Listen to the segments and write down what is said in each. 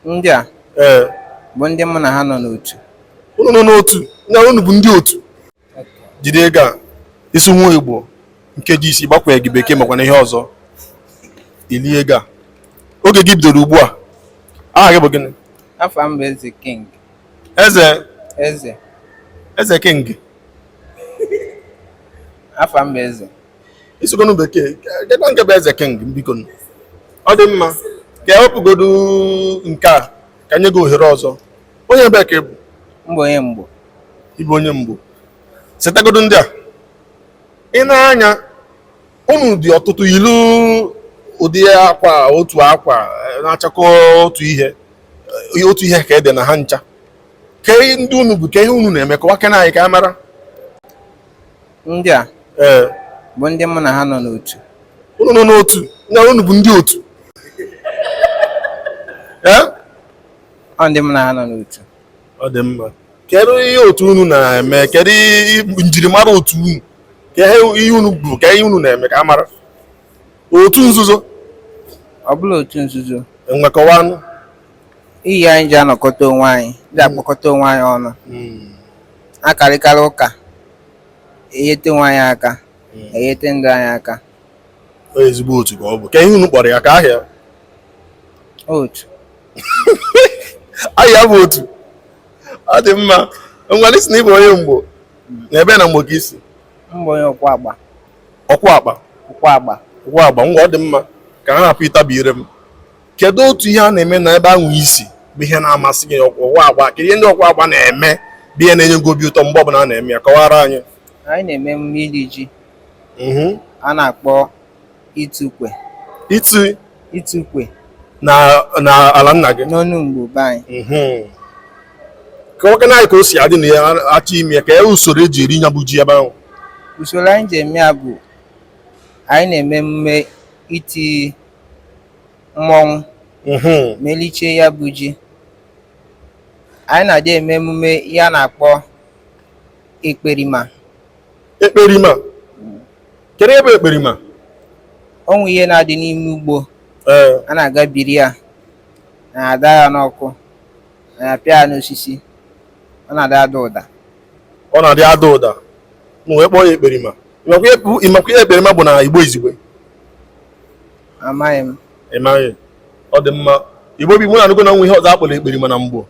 ndị a ee bụ ndị mụ na ha nọ n'otu unu nọ n'otu na unu bụ ndị otu jide ego a ị sụnwuo igbo nkeji isii gbakwunyeghị bekee makwana ihe ọzọ i lie ego a oge gị bidoro ugbu a aha gị bụ gịnị afa m bụ eze king eze eze eze king afa m bụ eze ị sụgonụ bekee kedụ nke bụ eze king biko ọ dị mma ka e wepụgodu nke a ka nye gị ohere ọzọ onye ebe ka ị bụ m bụ onye mgbo ị bụ onye mgbo setagodu ndị a ị na-anya unu dị ọtụtụ yilu ụdị akwa otu akwa na-achakọ otu ihe otu ihe ka e de na ha ncha ke ndị unu bụ ke ihe unu na-eme kọwakena anyị ka a mara Ndị a ee bụ ndị mụ na ha nọ n'otu. unu nọ n'otu na unu bụ ndị otu ee Ọ ndị mụ na ha nọ n'otu. ọ dị mma kedu ihe otu unu na-eme kedu ihe njirimara otu unu ke ihe unu bụ ke ihe unu na-eme ka a mara otu nzuzo Ọ bụrọ otu nzuzo. e nwekwanụ ihe anyị ji anọkọta onwe anyị, ji akpọkọta onwe anyị ọnụ. akarịkarị ụka enyeta onwe anyị aka hmm. enyeta ndị anyị aka onye ezigbo otu ka ọ bụ ke ihe unu kpọrọ ya ke aha ya otu aha ya bụ otu ọ dị mma ngwanụ ị sị na ị bụ onye mgbo hmm. na ebe na mgbo ka i si m bụ onye ukwuagba ukwuagba ukwuagba ukwuagba ngwa ọ dị mma ka m hapụ ịtabi ire m kedu otu ihe a na-eme na ebe ahụ i si bụ ihe na-amasị gị ukwuagba kedu ihe ndị ukwuagba na-eme bụ ihe na-enye gị obi ụtọ mgbe ọbụla a na-eme ya kọwara anyị anyị na-eme emume iri ji mhm. a na-akpọ itu ukwe itu itu ukwe na na ala nna gị n'ọnụ mgbo be anyị mhm. kọwakana anyị ka o si adị a na-achọ ime ya ke usoro e ji eri nya bụ ji ebe ahụ usoro anyị ji eme ya bụ anyị na-eme emume iti mmọnwụ mhm. ma e liche ya bụ ji anyị na-adị eme emume ihe a na-akpọ ekperima ekperima kedu ihe bụ ekperima o nwe ihe na-adị n'ime ugbo eh. a na-aga biri ya na-ada ya n'ọkụ na-apịa ya n'osisi ọ na-adị ada ụda ọ na-adị ada ụda e wee kpọọ ya ekperima ịmakwa ihe ekperima bụ na igbo izugbe amaghị m ịmaghị ọ dị mma igbo bi mụ na anụgo na e nwe ihe ọzọ akpọrọ ekperima na igbo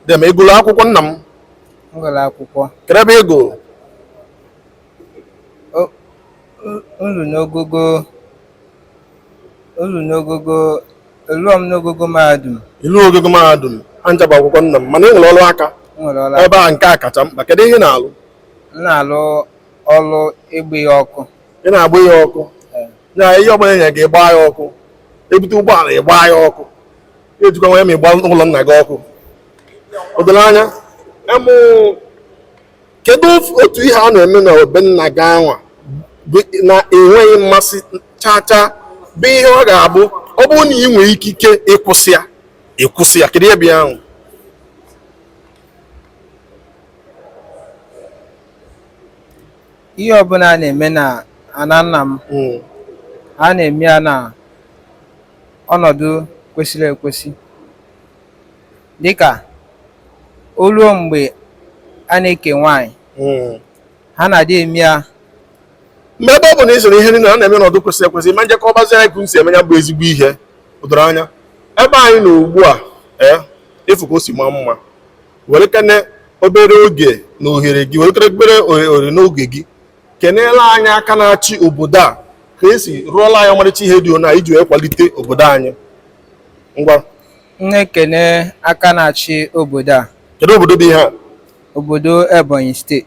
dị ma ịgụrụ akwụkwọ nna m ngụrụ akwụkwọ kee ebe ị gụru ngụru n'ogogo eruo m n'ogogo mahadum ilu ogogo mahadum anja bụ akwụkwọ nna m mana ị nwere ọrụ aka nwere ọrụ ebe a nke a kacha mkpa kedu ihe ị na-alụ m na-alụ ọrụ ịgba ihe ọkụ ị na-agba ihe ọkụ na ihe ọbụla enye gị gbaa ya ọkụ ebute ụgbọala ị gbaa ya ọkụ ejikwa m anya ma ịgba ụlọ nna gị ọkụ o doro anya em kedu otu ihe a na-eme na be nna gị anwa na ị nweghị mmasị chaa chaa bụ ihe ọ ga-abụ ọ bụrụ na ị nwee ikike ịkwụsị ya ịkwụsị ya kedu ihe ahụ ihe ọbụla a na-eme na ana nna m Mm. a na-eme ya na ọnọdụ kwesịrị ekwesị dịka o ruo mgbe a na-eke nwaanyị Mm. ha na-adị eme ya mgbe ebe ọ bụ na ị sịrị ihe niile a na-eme n'ọnọdụ kwesịrị ekwesị ma njekọ ọbazi anyị ka m si eme ya bụ ezigbo ihe o doro anya ebe anyị nọ ugbu a ee ịfụ ka o si maa mma werekene obere oge na ohere gị werekene obere ohere n'oge gị keneele anyị aka na-achị obodo a ka esi rụọla anyị ọmarịcha ihe dị ona iji wee kwalite obodo anyị ngwa m na-ekene aka na-achị obodo a kedu obodo bụ ihe a obodo Ebonyi steeti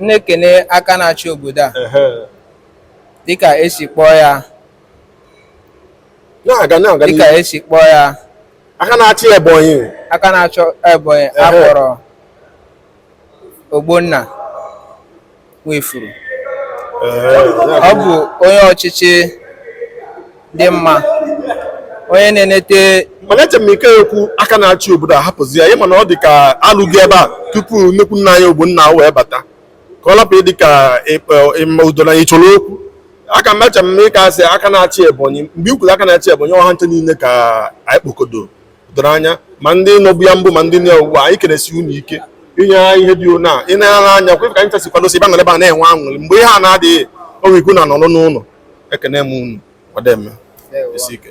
m na-ekene aka na-achị obodo a Ehe. dịka esi kpọọ ya na-aga na-aga dịka n'ihu. esi kpọọ ya aka na-achị ebonyi aka na-achị ebonyi Ehe. akpọrọ ogbonna nwifuru Ehe, ọ bụ onye ọchịchị dị mma onye na-enete mana eche m ị ka-ekwu aka na-achị obodo ahapụzi ya ịma na ọ dị ka alụghị ebe a tupu nnukwu nna anyị ogbonna wee bata ka ọ lapụ ịdị ka ịma udo na ị chọrọ okwu aka m eche m ịka asị aka na-achị ebonyi mgbe ikwuru aka na-achị ebonyi ọ ha ncha niile ka anyị kpokodo o doro anya ma ndị nọbu ya mbụ ma ndị nọ ugbu a anyị kwesi inwe ike inye ha ihe dị ona ị na-anya anya kwe ka anyị chesi kwadosi ebe a nọrọ ebe a na-enwe aṅụrị mgbe ihe a na-adịghị onwe ikwu na nọrọ n'ụlọ ekene m unu ọdeme isi ike